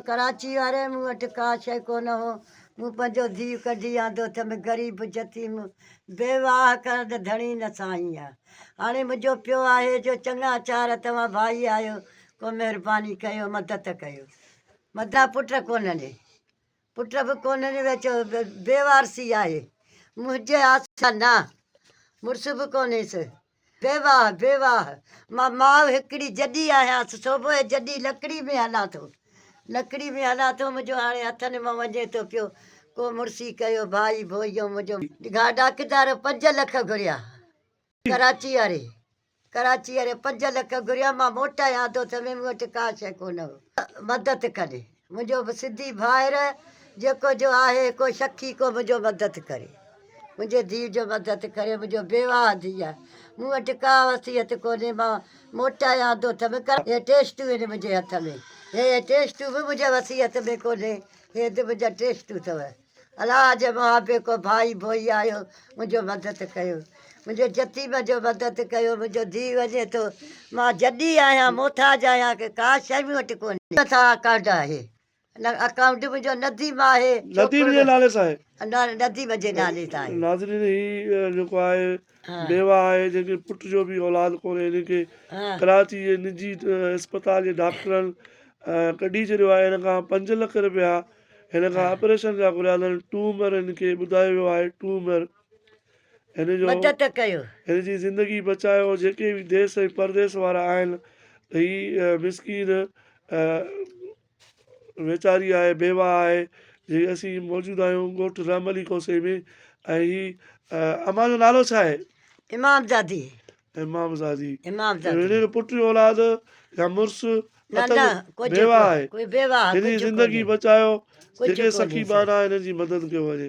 ڪراچي واري مون وٽ ڪا شئي ڪونه هو مون پنهنجو ڌيء ڪڍي آندو ٿم غريب جتيم بيواهه ڪرڻ ته ڌڻي نه ساهين آ هاڻي منهنجو پيو آهي جو چڱا چار توهان ڀائي آهيو ڪو مهرباني ڪيو مدد ڪيو مدد پٽ ڪونهن ڏي. پٽ به ڪونهن جو ويچو بي وارثي آهي منهنجي آسرا نه مڙس به ڪونهيس بي واهه بي واهه مان ماء هڪڙي جڏي آهيانس سو به جڏي لڪڙي ۾ هلان ٿو لڪڙي ۾ هلان ٿو منهنجو هاڻي هٿن مان وڃي ٿو پيو ڪو مڙسي ڪيو ڀائي ڀوئيو منهنجو گاڊاڪدار پنج لک گهريا ڪراچي واري ڪراچي واري پنج لک گهريا مان موٽايان ٿو ته به مون وٽ ڪا شيء ڪونه هئي مدد ڪري منهنجو به سنڌي ڀائر جيڪو جو آهي ڪو شخي ڪو منهنجو مدد ڪري منهنجي ڌيء جو مدد ڪري منهنجو بيواهه ڌيء آهي مون وٽ ڪا وصيت ڪونهي مان موٽايان ٿو ته به ڪر هي ٽيسٽون آهن منهنجي هٿ ۾ هي ٽيسٽون به منهنجي وصيت ۾ ڪونهي هي ته منهنجا ٽيسٽون اٿو الاهه جي محابيڪو ڀائي ڀوئي آيو منهنجو مدد ڪيو منهنجي جتيم جو مدد ڪيو منهنجو ڌيء وڃي ٿو مان جڏي آهيان محتاج آهيان ڪي ڪا شيء مون وٽ ڪونهي نه ٿا ڪارڊ آهي نه اڪائونٽ منهنجو نديم آهي نديم جي نالي سان آهي نديم جي نالي سان آهي ناظرين هي جيڪو آهي بيوه آهي جنهن کي پٽ جو به اولاد ڪونهي ان کي ڪراچي جي نجي اسپتال جي ڊاڪٽرن ڪڍي ڇڏيو آهي ان کان پنج لک رپيا هن کان آپريشن جا گهريادل ٽومر هن کي ٻڌايو ويو آهي ٽومر هن جو مدد ڪيو هن جي زندگي بچايو جيڪي به ديس ۽ پرديس وارا آهن ته هي مسڪين ويچاري آهي بيوا آهي جي اسين موجود آهيون ڳوٺ رحم علي کوسي ۾ ۽ هي امان جو نالو ڇا آهي امام زادي امامزادي، ويڙهي جو پٽ يا اولاد يا مڙس اتل، بيواهه، آهي، هن جي زندگي بچايو، جيڪي سخي ٻانها آهن، هنن جي مدد ڪيو وڃي.